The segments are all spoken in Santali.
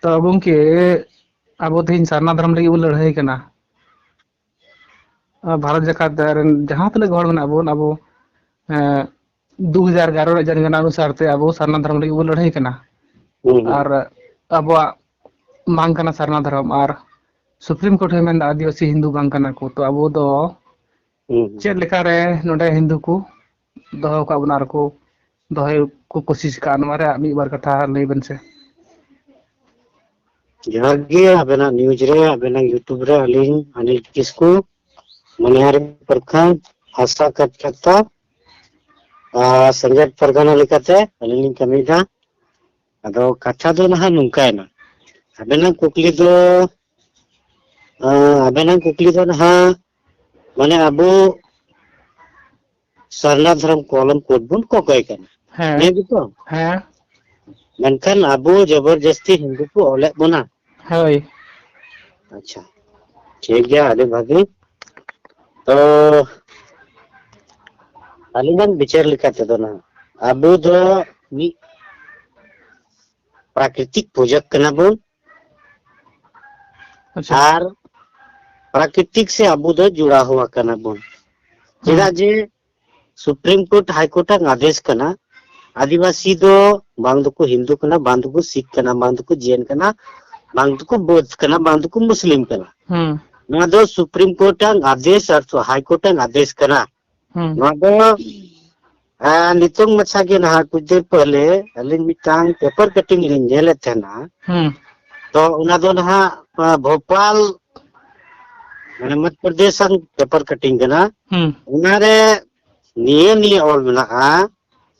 ᱛᱚ ᱜᱚᱝᱠᱮ ᱟᱵᱚ ᱛᱮᱦᱮᱧ ᱥᱟᱨᱱᱟ ᱫᱷᱚᱨᱚᱢ ᱞᱟᱹᱜᱤᱫ ᱵᱚᱱ ᱞᱟᱹᱲᱦᱟᱹᱭ ᱠᱟᱱᱟ᱾ ᱵᱷᱟᱨᱚᱛ ᱡᱟᱠᱟᱛ ᱨᱮᱱ ᱡᱟᱦᱟᱸ ᱛᱤᱱᱟᱹᱜ ᱦᱚᱲ ᱢᱮᱱᱟᱜ ᱵᱚᱱ ᱟᱵᱚ ᱮᱸ ᱫᱩ ᱦᱟᱡᱟᱨ ᱮᱜᱟᱨᱚ ᱨᱮᱭᱟᱜ ᱡᱟᱱᱜᱚᱱᱟ ᱚᱱᱩᱥᱟᱨ ᱛᱮ ᱟᱵᱚ ᱥᱟᱨᱱᱟ ᱫᱷᱚᱨᱚᱢ ᱞᱟᱹᱜᱤᱫ ᱵᱚᱱ ᱞᱟᱹᱲᱦᱟᱹᱭ ᱠᱟᱱᱟ᱾ ᱦᱩᱸ ᱦᱩᱸ ᱟᱨ ᱟᱵᱚᱣᱟᱜ ᱵᱟᱝ ᱠᱟᱱᱟ ᱥᱟᱨᱱᱟ ᱫᱷᱚᱨᱚᱢ ᱟᱨ ᱥᱩᱯᱨᱤᱢ ᱠᱳᱨᱴ ᱦᱚᱭ ᱢᱮᱱᱫᱟ ᱟᱹᱫᱤᱵᱟᱹᱥᱤ ᱦᱤᱱᱫᱩ ᱵᱟᱝ ᱠᱟᱱᱟ ᱠᱚ ᱛᱚ ᱟᱵᱚ ᱫᱚ ᱦᱩᱸ ᱦᱩᱸ ᱪᱮᱫ ᱞᱮᱠᱟᱨᱮ ᱱᱚᱰᱮ ᱦᱤᱱᱫᱩ ᱠᱚ ᱫᱚᱦᱚ ᱟᱠᱟᱫ ᱵᱚᱱᱟ ᱟᱨᱠᱚ ᱫᱚᱦᱚᱭ ᱠᱚ ᱠᱩᱥᱤᱥ ᱟᱠᱟᱫᱼᱟ ᱱᱚᱣᱟ ᱨᱮᱭᱟᱜ ᱢᱤᱫ ᱵᱟᱨ ᱠᱟᱛᱷᱟ ᱞᱟᱹᱭ ᱵᱮᱱ ᱥᱮ ᱡᱚᱦᱟᱨ ᱜᱮ ᱟᱵᱮᱱᱟᱜ ᱱᱤᱭᱩᱡ ᱨᱮ ᱟᱵᱮᱱᱟᱜ ᱤᱭᱩᱴᱩᱵᱽ ᱨᱮ ᱟᱹᱞᱤᱧ ᱟᱱᱤᱞ ᱠᱤᱥᱠᱩ ᱢᱚᱱᱤᱦᱟᱨᱤ ᱯᱨᱚᱠᱷᱚᱸᱰ ᱦᱟᱥᱟ ᱠᱟᱛᱠᱟᱛᱟ ᱟᱨ ᱥᱮᱸᱜᱮᱞ ᱯᱟᱨᱜᱟᱱᱟ ᱞᱮᱠᱟᱛᱮ ᱟᱹᱞᱤᱧ ᱞᱤᱧ ᱠᱟᱹᱢᱤᱭᱮᱫᱟ ᱟᱫᱚ ᱠᱟᱛᱷᱟ ᱫᱚ ᱱᱟᱦᱟᱜ ᱱᱚᱝᱠᱟᱭᱮᱱᱟ ᱟᱵᱮᱱᱟᱜ ᱠᱩᱠᱞᱤ ᱫᱚ ᱟᱵᱮᱱᱟᱜ ᱠᱩᱠᱞᱤ ᱫᱚ ᱱᱟᱦᱟᱜ ᱢᱟᱱᱮ ᱟᱵᱚ ᱥᱟᱨᱱᱟ ᱫᱷᱚᱨᱚᱢ ᱠᱚᱞᱚᱢ ᱠᱳᱰ ᱵᱚᱱ ᱠᱚᱠᱚᱭ ᱠᱟᱱᱟ ᱦᱮᱸ ᱱᱤᱭᱟᱹ ᱜᱮᱛᱚ ᱦᱮᱸ ᱢᱮᱱᱠᱷᱟᱱ ᱟᱵᱚ ᱡᱚᱵᱚᱨᱡᱟᱹᱥᱛᱤ ᱦᱤᱱᱫᱩ ᱠᱚ ᱚᱞᱮᱫ ᱵᱚᱱᱟ ᱦᱳᱭ ᱟᱪᱪᱷᱟ ᱴᱷᱤᱠ ᱜᱮᱭᱟ ᱟᱹᱰᱤ ᱵᱷᱟᱹᱜᱤ ᱛᱚ ᱟᱹᱞᱤᱧᱟᱜ ᱵᱤᱪᱟᱹᱨ ᱞᱮᱠᱟ ᱛᱮᱫᱚ ᱱᱟᱜ ᱟᱵᱚ ᱫᱚ ᱢᱤᱫ ᱯᱨᱟᱠᱨᱤᱛᱤᱠ ᱯᱩᱡᱟᱹ ᱠᱟᱱᱟ ᱵᱚᱱ ᱟᱪᱪᱷᱟ ᱟᱨ ᱯᱨᱟᱠᱨᱤᱛᱤᱠ ᱥᱮ ᱟᱵᱚ ᱫᱚ ᱡᱚᱲᱟ ᱦᱩᱣᱟ ᱠᱟᱱᱟ ᱵᱚᱱ ᱪᱮᱫᱟᱜ ᱡᱮ ᱥᱩᱯᱨᱤᱢ ᱠᱳᱨᱴ ᱦᱟᱭ ᱠᱳᱨᱴ ᱟᱜ ᱟᱫᱮᱥ ᱠᱟᱱᱟ ᱟᱹᱫᱤᱵᱟᱹᱥᱤ ᱫᱚ ᱵᱟᱝ ᱫᱚᱠᱚ ᱦᱤᱱᱫᱩ ᱠᱟᱱᱟ ᱵᱟᱝ ᱫᱚᱠᱚ ᱥᱤᱠᱷ ᱠᱟᱱᱟ ᱵᱟᱝ ᱫᱚᱠᱚ ᱡᱮᱱ ᱠᱟᱱᱟ ᱵᱟᱝ ᱫᱚᱠᱚ ᱵᱳᱫᱷ ᱠᱟᱱᱟ ᱵᱟᱝ ᱫᱚᱠᱚ ᱢᱩᱥᱞᱤᱢ ᱠᱟᱱᱟ ᱱᱚᱣᱟ ᱫᱚ ᱥᱩᱯᱨᱤᱢ ᱠᱳᱨᱴ ᱟᱜ ᱟᱫᱮᱥ ᱟᱨ ᱦᱟᱭ ᱠᱳᱨᱴ ᱟᱜ ᱟᱫᱮᱥ ᱠᱟᱱᱟ ᱱᱚᱣᱟ ᱫᱚ ᱱᱤᱛᱚᱝ ᱢᱟᱪᱷᱟ ᱜᱮ ᱱᱟᱦᱟᱜ ᱠᱩᱪ ᱫᱤᱱ ᱯᱟᱦᱞᱮ ᱟᱹᱞᱤᱧ ᱢᱤᱫᱴᱟᱝ ᱯᱮᱯᱟᱨ ᱠᱟᱴᱤᱝ ᱞᱤᱧ ᱧᱮᱞᱮᱫ ᱛᱟᱦᱮᱱᱟ ᱛᱚ ᱚᱱᱟ ᱫᱚ ᱱᱟᱦᱟᱜ ᱵᱷᱳᱯᱟᱞ ᱢᱟᱱᱮ ᱢᱚᱫᱷᱭᱚ ᱯᱨᱚᱫᱮᱥ ᱟᱱ ᱯᱮᱯᱟᱨ ᱠᱟᱴᱤᱝ ᱠᱟᱱᱟ ᱚᱱᱟᱨᱮ ᱱᱤᱭᱟᱹ ᱱᱤᱭᱟᱹ ᱚᱞ ᱢᱮᱱᱟᱜᱼᱟ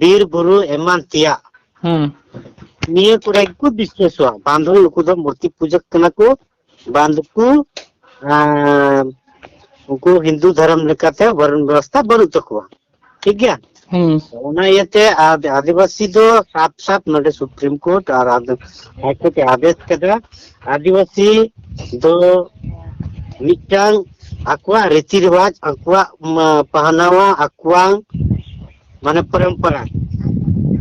ᱵᱤᱨ ᱵᱩᱨᱩ ᱮᱢᱟᱱ ᱛᱮᱭᱟᱜ ᱦᱩᱸ ᱱᱤᱭᱟᱹ ᱠᱚᱨᱮ ᱜᱮᱠᱚ ᱵᱤᱥᱮᱥᱚᱜᱼᱟ ᱵᱟᱝ ᱫᱚ ᱱᱩᱠᱩ ᱫᱚ ᱢᱩᱨᱛᱤ ᱯᱩᱡᱟᱹ ᱠᱟᱱᱟ ᱠᱚ ᱵᱟᱝ ᱫᱚᱠᱚ ᱩᱱᱠᱩ ᱦᱤᱱᱫᱩ ᱫᱷᱚᱨᱚᱢ ᱞᱮᱠᱟᱛᱮ ᱵᱚᱨᱚᱱ ᱵᱮᱵᱚᱥᱛᱷᱟ ᱵᱟᱹᱱᱩᱜ ᱛᱟᱠᱚᱣᱟ ᱴᱷᱤᱠ ᱜᱮᱭᱟ ᱚᱱᱟ ᱤᱭᱟᱹᱛᱮ ᱟᱹᱫᱤᱵᱟᱹᱥᱤ ᱫᱚ ᱥᱟᱯ ᱥᱟᱯ ᱱᱚᱰᱮ ᱥᱩᱯᱨᱤᱢ ᱠᱳᱨᱴ ᱟᱨ ᱦᱟᱭᱠᱳᱨᱴ ᱮ ᱟᱫᱮᱥ ᱠᱮᱫᱟ ᱟᱹᱫᱤᱵᱟᱹᱥᱤ ᱫᱚ ᱢᱤᱫᱴᱟᱝ ᱟᱠᱚᱣᱟᱜ ᱨᱤᱛᱤ ᱨᱮᱣᱟᱡᱽ ᱟᱠᱚᱣᱟᱜ ᱯᱟᱦᱱᱟᱣᱟ ᱟᱠᱚᱣᱟᱜ ᱢᱟᱱᱮ ᱯᱚᱨᱚᱢᱯᱚᱨᱟ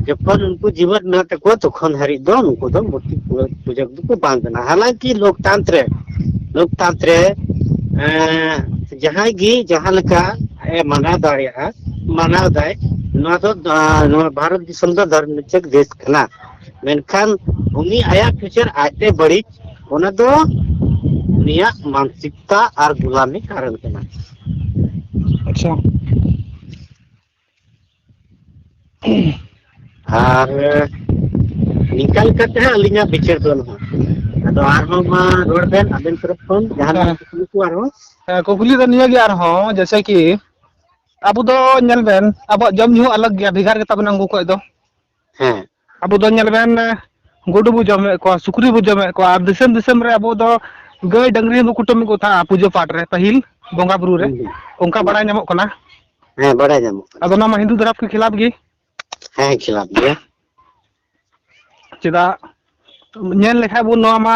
ᱡᱚᱠᱷᱚᱱ ᱩᱱᱠᱩ ᱡᱤᱣᱮᱫ ᱢᱮᱱᱟᱜ ᱛᱟᱠᱚᱣᱟ ᱛᱚᱠᱷᱚᱱ ᱦᱟᱹᱨᱤᱡ ᱫᱚ ᱱᱩᱠᱩ ᱫᱚ ᱢᱩᱨᱛᱤ ᱯᱩᱡᱟᱹ ᱫᱚᱠᱚ ᱵᱟᱝ ᱠᱟᱱᱟ ᱦᱟᱞᱟᱝᱠᱤ ᱞᱳᱠᱛᱟᱱᱛᱨᱮ ᱞᱳᱠᱛᱟᱱᱛᱨᱮ ᱡᱟᱦᱟᱸᱭ ᱜᱮ ᱡᱟᱦᱟᱸ ᱞᱮᱠᱟ ᱟᱡ ᱮ ᱢᱟᱱᱟᱣ ᱫᱟᱲᱮᱭᱟᱜᱼᱟ ᱢᱟᱱᱟᱣ ᱫᱟᱭ ᱱᱚᱣᱟ ᱫᱚ ᱱᱚᱣᱟ ᱵᱷᱟᱨᱚᱛ ᱫᱤᱥᱚᱢ ᱫᱚ ᱫᱷᱚᱨᱢ ᱱᱤᱨᱯᱮᱠᱷ ᱫᱮᱥ ᱠᱟᱱᱟ ᱢᱮᱱᱠᱷᱟᱱ ᱩᱱᱤ ᱟᱭᱟᱜ ᱯᱷᱤᱭᱩᱪᱟᱨ ᱟᱡᱛᱮ ᱵᱟᱹᱲᱤᱡ ᱚᱱᱟ ᱫᱚ ᱩᱱᱤᱭᱟᱜ ᱢᱟᱱᱚᱥᱤᱠᱚᱛᱟ ᱟᱨ ᱜᱩᱞᱟᱢᱤ ᱠᱟᱨᱚᱱ ᱠᱟᱱᱟ ᱟᱪᱪᱷᱟ ᱟᱨ ᱱᱤᱝᱠᱟ ᱞᱮᱠᱟᱛᱮ ᱦᱟᱸᱜ ᱟᱹᱞᱤᱧᱟᱜ ᱵᱤᱪᱟᱹᱨ ᱫᱚ ᱱᱚᱣᱟ ᱟᱫᱚ ᱟᱨᱦᱚᱸ ᱢᱟ ᱨᱚᱲ ᱵᱮᱱ ᱟᱵᱮᱱ ᱛᱚᱨᱚᱯ ᱠᱷᱚᱱ ᱡᱟᱦᱟᱱᱟᱜ ᱠᱩᱠᱞᱤ ᱠᱚ ᱟᱨᱦᱚᱸ ᱦᱮᱸ ᱠᱩᱠᱞᱤ ᱫᱚ ᱱᱤᱭᱟᱹ ᱜᱮ ᱟᱨᱦᱚᱸ ᱡᱮᱭᱥᱮ ᱠᱤ ᱟᱵᱚ ᱫᱚ ᱧᱮᱞ ᱵᱮᱱ ᱟᱵᱚᱣᱟᱜ ᱡᱚᱢ ᱧᱩ ᱦᱚᱸ ᱟᱞᱟᱜᱽ ᱜᱮᱭᱟ ᱵᱷᱮᱜᱟᱨ ᱜᱮᱛᱟ ᱵᱚᱱᱟ ᱩᱱᱠᱩ ᱠᱷᱚᱡ ᱫᱚ ᱦᱮᱸ ᱟᱵᱚ ᱫᱚ ᱧᱮᱞ ᱵᱮᱱ ᱜᱩᱰᱩ ᱵᱚ ᱡᱚᱢᱮᱫ ᱠᱚᱣᱟ ᱥᱩᱠᱨᱤ ᱵᱚ ᱡᱚᱢᱮᱫ ᱠᱚᱣᱟ ᱟᱨ ᱫᱤᱥᱚᱢ ᱫᱤᱥᱚᱢ ᱨᱮ ᱟᱵᱚ ᱫᱚ ᱜᱟᱹᱭ ᱰᱟᱹᱝᱨᱤ ᱦᱚᱸᱵᱚ ᱠᱩᱴᱟᱹᱢᱮᱫ ᱠᱚ ᱛᱟᱦᱮᱸᱜᱼᱟ ᱯᱩᱡᱟᱹ ᱯᱟᱴ ᱨᱮ ᱯᱟᱹᱦᱤᱞ ᱵᱚᱸᱜᱟ ᱵᱩᱨᱩ ᱨᱮ ᱦᱩᱸ ᱦᱩᱸ ᱚᱱᱠᱟ ᱦᱩᱸ ᱵᱟᱲᱟᱭ ᱧᱟᱢᱚᱜ ᱠᱟᱱᱟ ᱦᱮᱸ ᱵᱟᱲᱟᱭ ᱧᱟᱢᱚᱜ ᱠᱟᱱᱟ ᱟᱫᱚ ᱚᱱᱟ ᱢᱟ ᱦᱤᱱᱫᱩ ᱫᱷᱚᱨᱚᱢ ᱠᱚ ᱠᱷᱤᱞᱟᱯ ᱜᱮ ᱦᱮᱸ ᱠᱷᱤᱞᱟᱯ ᱜᱮᱭᱟ ᱪᱮᱫᱟᱜ ᱧᱮᱞ ᱞᱮᱠᱷᱟᱡ ᱵᱚᱱ ᱱᱚᱣᱟ ᱢᱟ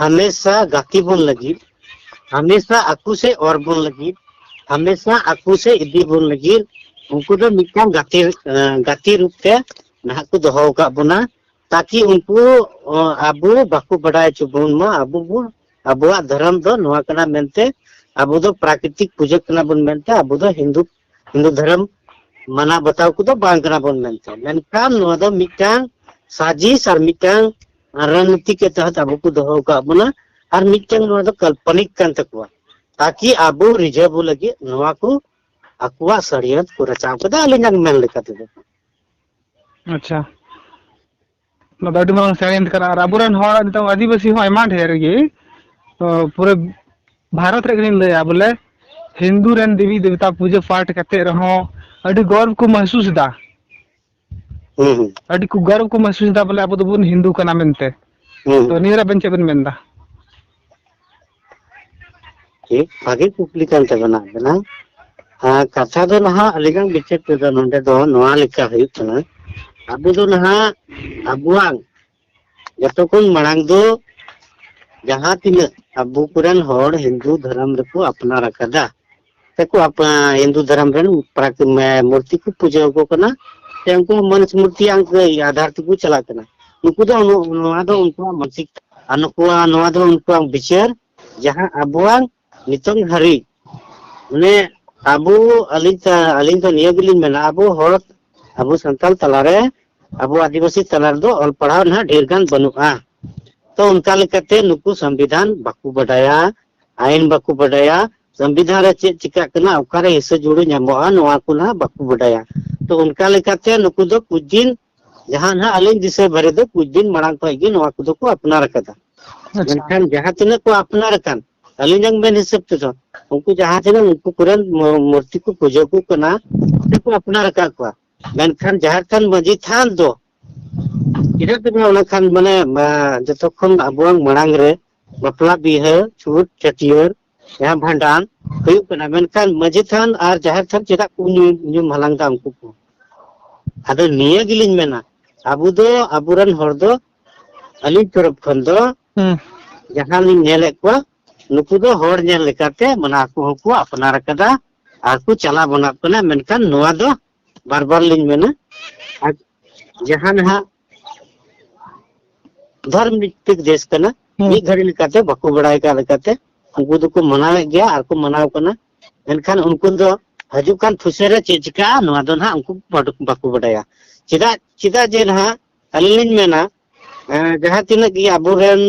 ᱦᱟᱢᱮᱥᱟ ᱜᱟᱛᱮ ᱵᱚᱱ ᱞᱟᱹᱜᱤᱫ ᱦᱟᱢᱮᱥᱟ ᱟᱠᱚ ᱥᱮ ᱚᱨ ᱵᱚᱱ ᱞᱟᱹᱜᱤᱫ ᱦᱟᱢᱮᱥᱟ ᱟᱠᱚ ᱥᱮ ᱤᱫᱤ ᱵᱚᱱ ᱞᱟᱹᱜᱤᱫ ᱩᱱᱠᱩ ᱫᱚ ᱢᱤᱫᱴᱟᱝ ᱜᱟᱛᱮ ᱜᱟᱛᱮ ᱨᱩᱯ ᱛᱮ ᱱᱟᱦᱟᱜ ᱠᱚ ᱫᱚᱦᱚ ᱟᱠᱟᱫ ᱵᱚᱱᱟ ᱛᱟᱠᱤ ᱩᱱᱠᱩ ᱟᱵᱚ ᱵᱟᱠᱚ ᱵᱟᱰᱟᱭ ᱦᱚᱪᱚ ᱵᱚᱱ ᱢᱟ ᱟᱵᱚ ᱵᱚᱱ ᱟᱵᱚᱣᱟᱜ ᱫᱷᱚᱨᱚᱢ ᱫᱚ ᱱᱚᱣᱟ ᱠᱟᱱᱟ ᱢᱮᱱᱛᱮ ᱟᱵᱚ ᱫᱚ ᱯᱨᱟᱠᱨᱤᱛᱤᱠ ᱯᱩᱡᱟᱹ ᱠᱟᱱᱟ ᱵᱚᱱ ᱢᱮᱱᱛᱮ ᱟᱵᱚ ᱫᱚ ᱦᱤᱱᱫᱩ ᱦᱤᱱᱫᱩ ᱫᱷᱚᱨᱚᱢ ᱢᱟᱱᱟᱣ ᱵᱟᱛᱟᱣ ᱠᱚᱫᱚ ᱵᱟᱝ ᱠᱟᱱᱟ ᱵᱚᱱ ᱢᱮᱱᱛᱮ ᱢᱮᱱᱠᱷᱟᱱ ᱱᱚᱣᱟ ᱫᱚ ᱢᱤᱫᱴᱟᱝ ᱥᱟजिश ᱟᱨ ᱢᱤᱫᱴᱟᱝ ᱨᱟᱱᱱᱤᱛᱤ ᱠᱮ ᱛᱟᱦᱮᱸ ᱟᱵᱚ ᱠᱚ ᱫᱚᱦᱚ ᱟᱠᱟᱫ ᱵᱚᱱᱟ ᱟᱨ ᱢᱤᱫᱴᱟᱝ ᱱᱚᱣᱟ ᱫᱚ ᱠᱟᱞᱯᱚᱱᱤᱠ ᱠᱟᱱ ᱛᱟᱠᱚᱣᱟ ᱛᱟᱠᱤ ᱟᱵᱚ ᱨᱤᱡᱷᱟᱹᱣ ᱞᱟᱹᱜᱤᱫ ᱱᱚᱣᱟ ᱠᱚ ᱟᱠᱚᱣᱟᱜ ᱥᱟᱹᱲᱤᱭᱟᱹᱛ ᱠᱚ ᱨᱟᱪᱟᱣ ᱠᱮᱫᱟ ᱟᱹᱞᱤᱧᱟᱜ ᱢᱮᱱ ᱞᱮᱠᱟ ᱛᱮᱫᱚ ᱟᱪᱪᱷᱟ ᱱᱚᱣᱟ ᱫᱚ ᱟᱹᱰᱤ ᱢᱟᱨᱟᱝ ᱥᱟᱜᱮᱱ ᱠᱟᱱᱟ ᱟᱨ ᱟᱵᱚᱨᱮᱱ ᱦᱚᱲ ᱱᱤᱛᱚᱜ ᱟᱹᱫᱤᱵᱟᱹᱥᱤ ᱦᱚᱸ ᱟᱭᱢᱟ ᱰᱷᱮᱨ ᱜᱮ ᱛᱚ ᱯᱩᱨᱟᱹ ᱵᱷᱟᱨᱚᱛ ᱨᱮ ᱜᱮᱞᱤᱧ ᱞᱟᱹᱭᱟ ᱵᱚᱞᱮ ᱦᱤᱱᱫᱩ ᱨᱮᱱ ᱫᱮᱵᱤ ᱫᱮᱵᱛᱟ ᱯᱩᱡᱟᱹ ᱯᱟᱴ ᱠᱟᱛᱮᱫ ᱨᱮᱦᱚᱸ ᱟᱹᱰᱤ ᱜᱚᱨᱚᱵᱽ ᱠᱚ ᱢᱟᱹᱦᱥᱩᱥ ᱮᱫᱟ ᱦᱩᱸ ᱦᱩᱸ ᱟᱹᱰᱤ ᱠᱚ ᱜᱚᱨᱚᱵᱽ ᱠᱚ ᱢᱟᱹᱦᱥᱩᱥ ᱮᱫᱟ ᱵᱚᱞᱮ ᱟᱵᱚ ᱫᱚᱵᱚᱱ ᱦᱤᱱᱫᱩ ᱠᱟᱱᱟ ᱢᱮᱱᱛᱮ ᱦᱩᱸ ᱛᱚ ᱱᱤᱭᱟᱹ ᱨᱮ ᱟᱵᱮᱱ ᱪᱮᱫ ᱵᱮᱱ ᱢᱮᱱ ᱮᱫᱟ ᱴᱷᱤᱠ ᱵᱷᱟᱜᱮ ᱠᱩᱠᱞᱤ ᱠᱟᱱ ᱛᱟᱵᱮᱱᱟ ᱟᱵᱮᱱᱟᱜ ᱠᱟᱛᱷᱟ ᱫᱚ ᱱᱟᱦᱟᱜ ᱟᱹᱰᱤᱜᱟᱱ ᱵᱤᱪᱟᱹᱨ ᱛᱮᱫᱚ ᱱᱚᱰᱮ ᱫᱚ ᱱᱚᱣᱟ ᱞᱮᱠᱟ ᱦᱩᱭᱩᱜ ᱠᱟᱱᱟ ᱟᱵᱚ ᱫᱚ ᱱᱟᱦᱟᱜ ᱟᱵᱚᱣᱟᱜ ᱡᱚᱛᱚ ᱠᱷᱚᱱ ᱢᱟᱲᱟᱝ ᱫᱚ ᱡᱟᱦᱟᱸ ᱛᱤᱱᱟᱹᱜ ᱟᱵᱚ ᱠᱚᱨᱮᱱ ᱦᱚᱲ ᱦᱤᱱᱫᱩ ᱫᱷᱚᱨᱚᱢ ᱨᱮᱠᱚ ᱟᱯᱱᱟᱨ ᱟᱠᱟᱫᱟ ᱛᱮᱠᱚ ᱦᱤᱱᱫᱩ ᱫᱷᱚᱨᱚᱢ ᱨᱮᱱ ᱢᱩᱨᱛᱤ ᱠᱚ ᱯᱩᱡᱟᱹ ᱟᱠᱚ ᱠᱟᱱᱟ ᱥᱮ ᱩᱱᱠᱩ ᱢᱟᱹᱱᱤᱥ ᱢᱩᱨᱛᱤ ᱟᱫᱷᱟᱨ ᱛᱮᱠᱚ ᱪᱟᱞᱟᱜ ᱠᱟᱱᱟ ᱱᱩᱠᱩ ᱫᱚ ᱱᱚᱣᱟ ᱫᱚ ᱩᱱᱠᱩᱣᱟᱜ ᱢᱟᱱᱥᱤᱠ ᱟᱨ ᱱᱩᱠᱩᱣᱟᱜ ᱱᱚᱣᱟ ᱫᱚ ᱩᱱᱠᱩᱣᱟᱜ ᱵᱤᱪᱟᱹᱨ ᱡᱟᱦᱟᱸ ᱟᱵᱚᱣᱟᱜ ᱱᱤᱛᱚᱝ ᱦᱟᱹᱨᱤᱡ ᱢᱟᱱᱮ ᱟᱵᱚ ᱟᱹᱞᱤᱧ ᱟᱹᱞᱤᱧ ᱫᱚ ᱱᱤᱭᱟᱹ ᱜᱮᱞᱤᱧ ᱢᱮᱱᱟ ᱟᱵᱚ ᱦᱚᱲ ᱟᱵᱚ ᱥᱟᱱᱛᱟᱲ ᱛᱟᱞᱟᱨᱮ ᱟᱵᱚ ᱟᱹᱫᱤᱵᱟᱹᱥᱤ ᱛᱟᱞᱟ ᱨᱮᱫᱚ ᱚᱞ ᱯᱟᱲᱦᱟᱣ ᱱᱟᱦᱟᱜ ᱰᱷᱮᱨ ᱜᱟᱱ ᱵᱟᱹᱱᱩᱜᱼᱟ ᱛᱚ ᱚᱱᱠᱟ ᱞᱮᱠᱟᱛᱮ ᱱᱩᱠᱩ ᱥᱚᱝᱵᱤᱫᱷᱟᱱ ᱵᱟᱠᱚ ᱵᱟᱰᱟᱭᱟ ᱟᱭᱤᱱ ᱵᱟᱠᱚ ᱵᱟᱰᱟᱭᱟ ᱥᱚᱝᱵᱤᱫᱷᱟᱱ ᱨᱮ ᱪᱮᱫ ᱪᱤᱠᱟᱹᱜ ᱠᱟᱱᱟ ᱚᱠᱟᱨᱮ ᱦᱤᱥᱟᱹ ᱡᱩᱲᱩ ᱧᱟᱢᱚᱜᱼᱟ ᱱᱚᱣᱟ ᱠᱚ ᱱᱟᱦᱟᱜ ᱵᱟᱠᱚ ᱵᱟᱰᱟᱭᱟ ᱛᱚ ᱚᱱᱠᱟ ᱞᱮᱠᱟᱛᱮ ᱱᱩᱠᱩ ᱫᱚ ᱠᱩᱪ ᱫᱤᱱ ᱡᱟᱦᱟᱸ ᱱᱟᱦᱟᱜ ᱟᱹᱞᱤᱧ ᱫᱤᱥᱟᱹ ᱵᱷᱟᱨᱮ ᱫᱚ ᱠᱩᱪ ᱫᱤᱱ ᱢᱟᱲᱟᱝ ᱠᱷᱚᱱ ᱜᱮ ᱱᱚᱣᱟ ᱠᱚᱫᱚ ᱠᱚ ᱟᱯᱱᱟᱨ ᱟᱠᱟᱫᱟ ᱟᱪᱪᱷᱟ ᱢᱮᱱᱠᱷᱟᱱ ᱡᱟᱦᱟᱸ ᱛᱤᱱᱟᱹᱜ ᱠᱚ ᱟᱯᱱᱟᱨ ᱟᱠᱟᱱ ᱟᱹᱞᱤᱧᱟᱜ ᱢᱮᱱ ᱦᱤᱥᱟᱹᱵ ᱛᱮᱫᱚ ᱩᱱᱠᱩ ᱡᱟᱦᱟᱸ ᱛᱤᱱᱟᱹᱜ ᱩᱱᱠᱩ ᱠᱚᱨᱮᱱ ᱢᱩ- ᱢᱩᱨᱛᱤ ᱠᱚ ᱯᱩᱡᱟᱹ ᱠᱚ ᱠᱟᱱᱟ ᱩᱱᱠᱩ ᱠᱚ ᱟᱯᱱᱟᱨ ᱟᱠᱟᱫ ᱠᱚᱣᱟ ᱢᱮᱱᱠᱷᱟᱱ ᱡᱟᱦᱮᱨ ᱛᱷᱟᱱ ᱢᱟᱺᱡᱷᱤ ᱛᱷᱟᱱ ᱫᱚ ᱪᱮᱫᱟᱜ ᱛᱮ ᱚᱱᱟ ᱠᱷᱟᱱ ᱢᱟᱱᱮ ᱢᱟ, ᱡᱚᱛᱚ ᱠᱷᱚᱱ ᱟᱵᱚᱣᱟᱜ ᱢᱟᱲᱟᱝ ᱨᱮ ᱵᱟᱯᱞᱟ ᱵᱤᱦᱟᱹ ᱪᱷᱩᱛ ᱪᱷᱟᱹᱴᱭᱟᱹᱨ ᱡᱟᱦᱟᱸ ᱵᱷᱟᱸᱰᱟᱱ ᱦᱩᱭᱩᱜ ᱠᱟᱱᱟ ᱢᱮᱱᱠᱷᱟᱱ ᱢᱟᱺᱡᱷᱤ ᱛᱷᱟᱱ ᱟᱨ ᱡᱟᱦᱮᱨ ᱛᱷᱟᱱ ᱪᱮᱫᱟᱜ ᱠᱚ ᱧᱩᱢ ᱦᱟᱞᱟᱝ ᱫᱟ ᱩᱱᱠᱩ ᱠᱚ ᱟᱫᱚ ᱱᱤᱭᱟᱹ ᱜᱮᱞᱤᱧ ᱢᱮᱱᱟ ᱟᱵᱚ ᱫᱚ ᱟᱵᱚᱨᱮᱱ ᱦᱚᱲ ᱫᱚ ᱟᱹᱞᱤᱧ ᱛᱚᱨᱚᱯ ᱠᱷᱚᱱ ᱫᱚ ᱡᱟᱦᱟᱸ ᱞᱤᱧ ᱧᱮᱞᱮᱫ ᱠᱚᱣᱟ ᱱᱩᱠᱩ ᱫᱚ ᱦᱚᱲ ᱧᱮᱞ ᱞᱮᱠᱟᱛᱮ ᱢᱟᱱᱮ ᱟᱠᱚ ᱦᱚᱸᱠᱚ ᱟᱯᱱᱟᱨ ᱟᱠᱟᱫᱟ ᱟᱨ ᱠᱚ ᱪᱟᱞᱟᱣ ᱵᱚᱱᱟᱜ ᱠᱟᱱᱟ ᱢᱮᱱᱠᱷᱟᱱ ᱱᱚᱣᱟ ᱫᱚ ᱵᱟᱨ ᱵᱟᱨ ᱞᱤᱧ ᱢᱮᱱᱟ ᱟᱨ ᱡᱟᱦᱟᱸ ᱱᱟᱦᱟᱜ ᱫᱷᱚᱨᱢ ᱵᱷᱤᱛᱛᱤᱠ ᱫᱮᱥ ᱠᱟᱱᱟ ᱢᱤᱫ ᱜᱷᱟᱹᱲᱤ ᱞᱮᱠᱟᱛᱮ ᱵᱟᱠᱚ ᱵᱟᱲᱟᱭ ᱠᱟᱜ ᱞᱮᱠᱟᱛᱮ ᱩᱱᱠᱩ ᱫᱚᱠᱚ ᱢᱟᱱᱟᱣᱮᱫ ᱜᱮᱭᱟ ᱟᱨ ᱠᱚ ᱢᱟᱱᱟᱣ ᱠᱟᱱᱟ ᱢᱮᱱᱠᱷᱟᱱ ᱩᱱᱠᱩ ᱫᱚ ᱦᱤᱡᱩᱜ ᱠᱟᱱ ᱯᱷᱩᱥᱮ ᱨᱮ ᱪᱮᱫ ᱪᱤᱠᱟᱹᱜᱼᱟ ᱱᱚᱣᱟ ᱫᱚ ᱱᱟᱦᱟᱜ ᱩᱱᱠᱩ ᱵᱟᱠᱚ ᱵᱟᱰᱟᱭᱟ ᱪᱮᱫᱟᱜ ᱪᱮᱫᱟᱜ ᱡᱮ ᱱᱟᱦᱟᱜ ᱟᱹᱞᱤᱧ ᱞᱤᱧ ᱢᱮᱱᱟ ᱡᱟᱦᱟᱸ ᱛᱤᱱᱟᱹᱜ ᱜᱮ ᱟᱵᱚᱨᱮᱱ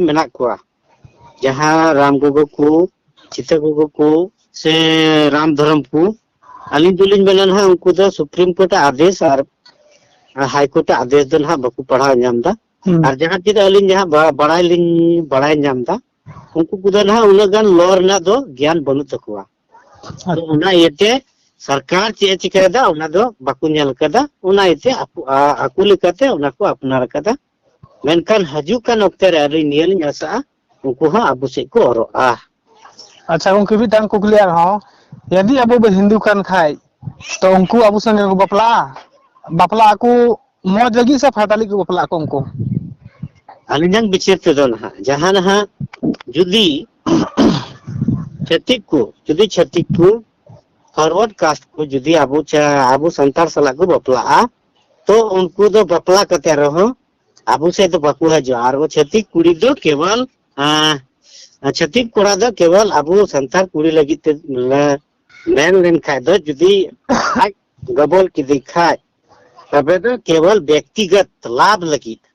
ᱢᱮᱱᱟᱜ ᱠᱚᱣᱟ ᱡᱟᱦᱟᱸ ᱨᱟᱢ ᱜᱚᱜᱚ ᱠᱚ ᱥᱤᱛᱟᱹ ᱜᱚᱜᱚ ᱠᱚ ᱥᱮ ᱨᱟᱢ ᱫᱷᱚᱨᱚᱢ ᱠᱚ ᱟᱹᱞᱤᱧ ᱫᱚᱞᱤᱧ ᱢᱮᱱᱟ ᱱᱟᱦᱟᱜ ᱩᱱᱠᱩ ᱫᱚ ᱥᱩᱯᱨᱤᱢ ᱠᱳᱨᱴ ᱟᱜ ᱟᱫᱮᱥ ᱟᱨ ᱦᱟᱭ ᱠᱳᱨᱴ ᱟᱜ ᱟᱫᱮᱥ ᱫᱚ ᱱᱟᱦᱟᱜ ᱵᱟᱠᱚ ᱯᱟᱲᱦᱟᱣ ᱧᱟᱢ ᱮᱫᱟ ᱦᱩᱸ ᱟᱨ ᱡᱟᱦᱟᱸ ᱛᱤᱱᱟᱹᱜ ᱟᱹᱞᱤᱧ ᱡᱟᱦᱟᱸ ᱵᱟ- ᱵᱟᱲᱟᱭ ᱞᱤᱧ ᱵᱟᱲᱟᱭ ᱧᱟᱢ ᱮᱫᱟ ᱩᱱᱠᱩ ᱠᱚᱫᱚ ᱱᱟᱦᱟᱜ ᱩᱱᱟᱹᱜ ᱜᱟᱱ ᱞᱚ ᱨᱮᱱᱟᱜ ᱫᱚ ᱜᱮᱭᱟᱱ ᱵᱟᱹᱱᱩᱜ ᱛᱟᱠᱚᱣᱟ ᱛᱚ ᱚᱱᱟ ᱤᱭᱟᱹᱛᱮ ᱥᱚᱨᱠᱟᱨ ᱪᱮᱫ ᱮ ᱪᱤᱠᱟᱹᱭᱮᱫᱟ ᱚᱱᱟ ᱫᱚ ᱵᱟᱠᱚ ᱧᱮᱞ ᱟᱠᱟᱫᱟ ᱚᱱᱟ ᱤᱭᱟᱹᱛᱮ ᱟᱠᱚ ᱟ- ᱟᱠᱚ ᱞᱮᱠᱟᱛᱮ ᱚᱱᱟ ᱠᱚ ᱟᱯᱱᱟᱨ ᱟᱠᱟᱫᱟ ᱢᱮᱱᱠᱷᱟᱱ ᱦᱤᱡᱩᱜ ᱠᱟᱱ ᱚᱠᱛᱮ ᱨᱮ ᱟᱹᱞᱤᱧ ᱱᱤᱭᱟᱹ ᱞᱤᱧ ᱟᱥᱟᱜᱼᱟ ᱩᱱᱠᱩ ᱦᱚᱸ ᱟᱵᱚ ᱥᱮᱫ ᱠᱚ ᱚᱨᱚᱜᱼᱟ ᱟᱪᱪᱷᱟ ᱜᱚᱝᱠᱮ ᱢᱤᱫᱴᱟᱝ ᱠᱩᱠᱞᱤ ᱟᱨᱦᱚᱸ ᱡᱩᱫᱤ ᱟᱵᱚ ᱵᱚ ᱦᱤᱱᱫᱩ ᱠᱟᱱ ᱠᱷᱟᱡ ᱛᱚ ᱩᱱᱠᱩ ᱟᱵᱚ ᱥᱚᱸᱜᱮ ᱠᱚ ᱵᱟᱯᱞᱟᱜᱼᱟ ᱵᱟᱯᱞᱟᱜ ᱟᱠᱚ ᱢᱚᱡᱽ ᱞᱟᱹᱜᱤᱫ ᱥᱮ ᱯᱷᱟᱭᱫᱟ ᱞᱟᱹᱜᱤᱫ ᱠᱚ ᱵᱟᱯᱞᱟᱜ ᱟᱠᱚ ᱩᱱᱠᱩ ᱟᱹᱞᱤᱧᱟᱜ ᱵᱤᱪᱟᱹᱨ ᱛᱮᱫᱚ ᱱᱟᱦᱟᱜ ᱡᱟᱦᱟᱸ ᱱᱟᱦᱟᱜ ᱡᱩᱫᱤ ᱪᱷᱟᱹᱛᱤᱠ ᱠᱚ ᱡᱩᱫᱤ ᱪᱷᱟᱹᱛᱤᱠ ᱠᱚ ᱯᱷᱚᱨᱣᱟᱨᱰ ᱠᱟᱥᱴ ᱠᱚ ᱡᱩᱫᱤ ᱟᱵᱚ ᱟᱵᱚ ᱥᱟᱱᱛᱟᱲ ᱥᱟᱞᱟᱜ ᱠᱚ ᱵᱟᱯᱞᱟᱜᱼᱟ ᱛᱚ ᱩᱱᱠᱩ ᱫᱚ ᱵᱟᱯᱞᱟ ᱠᱟᱛᱮ ᱨᱮᱦᱚᱸ ᱟᱵᱚ ᱥᱮᱫ ᱫᱚ ᱵᱟᱠᱚ ᱦᱤᱡᱩᱜᱼᱟ ᱟᱨ ᱪᱷᱟᱹᱛᱤᱠ ᱠᱩᱲᱤ ᱫᱚ ᱠᱮᱵᱚᱞ ᱪᱷᱟᱹᱛᱤᱠ ᱠᱚᱲᱟ ᱫᱚ ᱠᱮᱵᱚᱞ ᱟᱵᱚ ᱥᱟᱱᱛᱟᱲ ᱠᱩᱲᱤ ᱞᱟᱹᱜᱤᱫ ᱛᱮ ᱢᱮᱱ ᱞᱮᱱᱠᱷᱟᱡ ᱫᱚ ᱡᱩᱫᱤ ᱟᱡ ᱜᱚᱵᱚᱞ ᱠᱮᱫᱮ ᱠᱷᱟᱡ ᱛᱚᱵᱮ ᱫᱚ ᱠᱮᱵᱚᱞ ᱵᱮᱠᱛᱤᱜᱚᱛ ᱞᱟᱵᱷ ᱞᱟᱹᱜᱤᱫ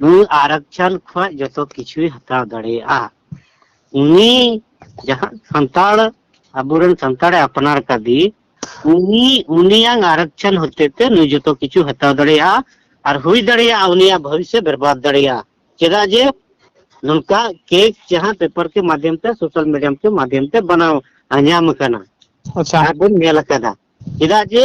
ᱱᱩᱭ ᱟᱨᱟᱠᱪᱟᱱ ᱠᱷᱚᱱ ᱡᱚᱛᱚ ᱠᱤᱪᱷᱩᱭ ᱦᱟᱛᱟᱣ ᱫᱟᱲᱮᱭᱟᱜᱼᱟ ᱩᱱᱤ ᱡᱟᱦᱟᱸ ᱥᱟᱱᱛᱟᱲ ᱟᱵᱚᱨᱮᱱ ᱥᱟᱱᱛᱟᱲᱮ ᱟᱯᱱᱟᱨ ᱠᱟᱫᱮ ᱩᱱᱤ ᱩᱱᱤᱭᱟᱝ ᱟᱨᱟᱠᱪᱟᱱ ᱦᱚᱛᱮᱛᱮ ᱱᱩᱭ ᱡᱚᱛᱚ ᱠᱤᱪᱷᱩ ᱦᱟᱛᱟᱣ ᱫᱟᱲᱮᱭᱟᱜᱼᱟ ᱟᱨ ᱦᱩᱭ ᱫᱟᱲᱮᱭᱟᱜᱼᱟ ᱩᱱᱤᱭᱟᱜ ᱵᱷᱚᱵᱤᱥᱥᱚ ᱵᱮᱨᱵᱟᱫ ᱫᱟᱲᱮᱭᱟᱜᱼᱟ ᱪᱮᱫᱟᱜ ᱡᱮ ᱱᱚᱝᱠᱟ ᱠᱮᱠ ᱡᱟᱦᱟᱸ ᱯᱮᱯᱟᱨ ᱠᱮ ᱢᱟᱫᱷᱭᱚᱢ ᱛᱮ ᱥᱳᱥᱟᱞ ᱢᱤᱰᱤᱭᱟᱢ ᱠᱮ ᱢᱟᱫᱷᱭᱚᱢ ᱛᱮ ᱵᱟᱱᱟᱣ ᱧᱟᱢ ᱟᱠᱟᱱᱟ ᱟᱪᱪᱷᱟ ᱟᱨ ᱵᱚᱱ ᱧᱮᱞ ᱟᱠᱟᱫᱟ ᱪᱮᱫᱟᱜ ᱡᱮ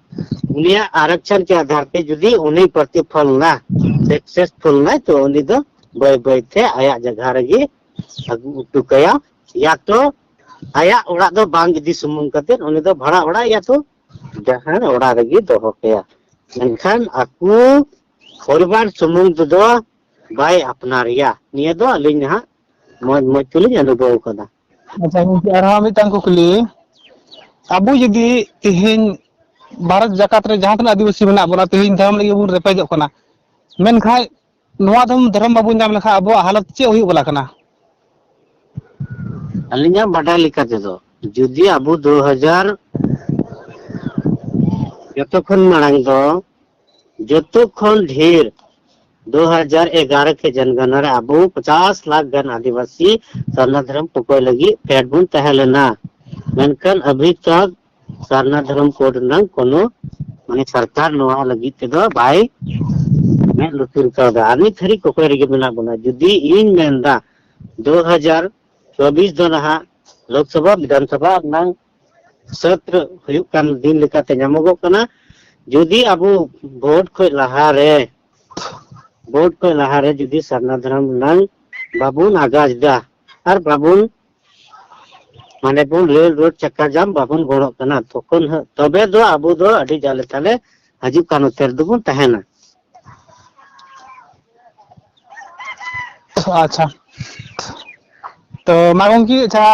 ᱩᱱᱤᱭᱟᱜ ᱟᱨᱟᱠᱪᱟᱨ ᱠᱮ ᱟᱫᱷᱟᱨ ᱛᱮ ᱡᱩᱫᱤ ᱩᱱᱤ ᱯᱨᱚᱛᱤ ᱯᱷᱚᱞ ᱱᱟ ᱥᱮᱠᱥᱮᱥ ᱯᱷᱚᱞ ᱱᱟᱭ ᱛᱚ ᱩᱱᱤ ᱫᱚ ᱵᱟᱹᱭ ᱵᱟᱹᱭ ᱛᱮ ᱟᱭᱟᱜ ᱡᱟᱜᱟ ᱨᱮᱜᱮ ᱟᱹᱜᱩ ᱩᱴᱩ ᱠᱟᱭᱟ ᱭᱟ ᱛᱚ ᱟᱭᱟᱜ ᱚᱲᱟᱜ ᱫᱚ ᱵᱟᱝ ᱤᱫᱤ ᱥᱩᱢᱩᱝ ᱠᱟᱛᱮ ᱩᱱᱤ ᱫᱚ ᱵᱷᱟᱲᱟ ᱚᱲᱟᱜ ᱭᱟ ᱛᱚ ᱡᱟᱦᱟᱸ ᱚᱲᱟᱜ ᱨᱮᱜᱮ ᱫᱚᱦᱚ ᱠᱟᱭᱟ ᱢᱮᱱᱠᱷᱟᱱ ᱟᱠᱚ ᱯᱚᱨᱤᱵᱟᱨ ᱥᱩᱢᱩᱝ ᱛᱮᱫᱚ ᱵᱟᱭ ᱟᱯᱱᱟᱨᱮᱭᱟ ᱱᱤᱭᱟᱹ ᱫᱚ ᱟᱹᱞᱤᱧ ᱱᱟᱦᱟᱜ ᱢᱚᱡᱽ ᱢᱚᱡᱽ ᱛᱮᱞᱤᱧ ᱚᱱᱩᱵᱷᱚᱵ ᱟᱠᱟᱫᱟ ᱟᱪᱪᱷᱟ ᱜᱚᱝᱠᱮ ᱟᱨᱦᱚᱸ ᱢᱤᱫᱴᱟᱝ ᱠᱩᱠᱞᱤ ᱟᱵᱚ ᱡᱩᱫᱤ ᱛᱮᱦᱤᱧ ᱵᱷᱟᱨᱚᱛ ᱡᱟᱠᱟᱛ ᱨᱮ ᱡᱟᱦᱟᱸ ᱛᱤᱱᱟᱹᱜ ᱟᱹᱫᱤᱵᱟᱹᱥᱤ ᱢᱮᱱᱟᱜ ᱵᱚᱱᱟ ᱛᱮᱦᱤᱧ ᱫᱷᱚᱨᱚᱢ ᱞᱟᱹᱜᱤᱫ ᱵᱚᱱ ᱨᱮᱯᱮᱡᱚᱜ ᱠᱟᱱᱟ ᱢᱮᱱᱠᱷᱟᱡ ᱱᱚᱣᱟ ᱫᱚᱢ ᱫᱷᱚᱨᱚᱢ ᱵᱟᱵᱚᱱ ᱧᱟᱢ ᱞᱮᱠᱷᱟᱱ ᱟᱵᱚᱣᱟᱜ ᱦᱟᱞᱚᱛ ᱪᱮᱫ ᱦᱩᱭᱩᱜ ᱵᱟᱞᱟ ᱠᱟᱱᱟ ᱟᱹᱞᱤᱧᱟᱜ ᱵᱟᱰᱟᱭ ᱞᱮᱠᱟ ᱛᱮᱫᱚ ᱡᱩᱫᱤ ᱟᱵᱚ ᱫᱩ ᱦᱟᱡᱟᱨ ᱡᱚᱛᱚ ᱠᱷᱚᱱ ᱢᱟᱲᱟᱝ ᱫᱚ ᱡᱚᱛᱚ ᱠᱷᱚᱱ ᱰᱷᱮᱨ ᱫᱩ ᱦᱟᱡᱟᱨ ᱮᱜᱟᱨᱚ ᱠᱮ ᱡᱚᱱᱜᱚᱱᱟ ᱨᱮ ᱟᱵᱚ ᱯᱚᱪᱟᱥ ᱞᱟᱠᱷ ᱜᱟᱱ ᱟᱹᱫᱤᱵᱟᱹᱥᱤ ᱥᱟᱨᱱᱟ ᱫᱷᱚᱨᱚᱢ ᱯᱚᱠᱚᱭ ᱞᱟᱹᱜᱤᱫ ᱯᱷᱮᱰ ᱵᱚᱱ ᱛᱟᱦᱮᱸ ᱞᱮᱱᱟ ᱢᱮᱱᱠᱷᱟᱱ ᱟᱵᱷᱤ ᱛᱚᱠ ᱥᱟᱨᱱᱟ ᱫᱷᱚᱨᱚᱢ ᱠᱳᱰ ᱨᱮᱱᱟᱜ ᱠᱳᱱᱳ ᱢᱟᱱᱮ ᱥᱚᱨᱠᱟᱨ ᱱᱚᱣᱟ ᱞᱟᱹᱜᱤᱫ ᱛᱮᱫᱚ ᱵᱟᱭ ᱢᱮᱫ ᱞᱩᱛᱩᱨ ᱠᱟᱣᱫᱟ ᱟᱨ ᱱᱤᱛ ᱦᱟᱹᱨᱤᱡ ᱠᱚᱠᱚᱭ ᱨᱮᱜᱮ ᱢᱮᱱᱟᱜ ᱵᱚᱱᱟ ᱡᱩᱫᱤ ᱤᱧ ᱢᱮᱱᱫᱟ ᱫᱩ ᱦᱟᱡᱟᱨ ᱪᱚᱵᱵᱤᱥ ᱫᱚ ᱱᱟᱦᱟᱜ ᱞᱳᱠᱥᱚᱵᱷᱟ ᱵᱤᱫᱷᱟᱱᱥᱚᱵᱷᱟ ᱨᱮᱱᱟᱝ ᱥᱟᱹᱛ ᱦᱩᱭᱩᱜ ᱠᱟᱱ ᱫᱤᱱ ᱞᱮᱠᱟᱛᱮ ᱧᱟᱢᱚᱜᱚᱜ ᱠᱟᱱᱟ ᱡᱩᱫᱤ ᱟᱵᱚ ᱵᱷᱳᱴ ᱠᱷᱚᱡ ᱞᱟᱦᱟᱨᱮ ᱵᱷᱳᱴ ᱠᱷᱚᱡ ᱞᱟᱦᱟᱨᱮ ᱡᱩᱫᱤ ᱥᱟᱨᱱᱟ ᱫᱷᱚᱨᱚᱢ ᱨᱮᱱᱟᱝ ᱵᱟᱵᱚᱱ ᱟᱜᱟᱡ ᱫᱟ ᱟᱨ ᱵᱟᱵᱚᱱ ᱢᱟᱱᱮ ᱵᱚᱱ ᱨᱮᱞ ᱨᱳᱰ ᱪᱟᱠᱟ ᱡᱟᱢ ᱵᱟᱵᱚᱱ ᱜᱚᱲᱚᱜ ᱠᱟᱱᱟ ᱛᱚᱠᱷᱚᱱ ᱛᱚᱵᱮ ᱫᱚ ᱟᱵᱚ ᱫᱚ ᱟᱹᱰᱤ ᱡᱟᱞᱮ ᱛᱟᱞᱮ ᱦᱤᱡᱩᱜ ᱠᱟᱱ ᱚᱠᱛᱮ ᱨᱮᱫᱚ ᱵᱚᱱ ᱛᱟᱦᱮᱱᱟ ᱟᱪᱪᱷᱟ ᱛᱚ ᱢᱟ ᱜᱚᱝᱠᱮ ᱟᱪᱪᱷᱟ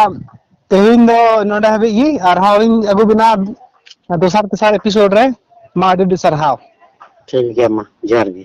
ᱛᱮᱦᱮᱧ ᱫᱚ ᱱᱚᱰᱮ ᱦᱟᱹᱵᱤᱡ ᱜᱮ ᱟᱨᱦᱚᱸ ᱞᱤᱧ ᱟᱹᱜᱩ ᱵᱤᱱᱟ ᱫᱚᱥᱟᱨ ᱛᱮᱥᱟᱨ ᱮᱯᱤᱥᱳᱰ ᱨᱮ ᱢᱟ ᱟᱹᱰᱤ ᱟᱹᱰᱤ ᱥᱟᱨᱦᱟᱣ ᱴᱷᱤᱠ ᱜᱮᱭᱟ ᱢᱟ ᱡᱚᱦᱟᱨ ᱜᱮ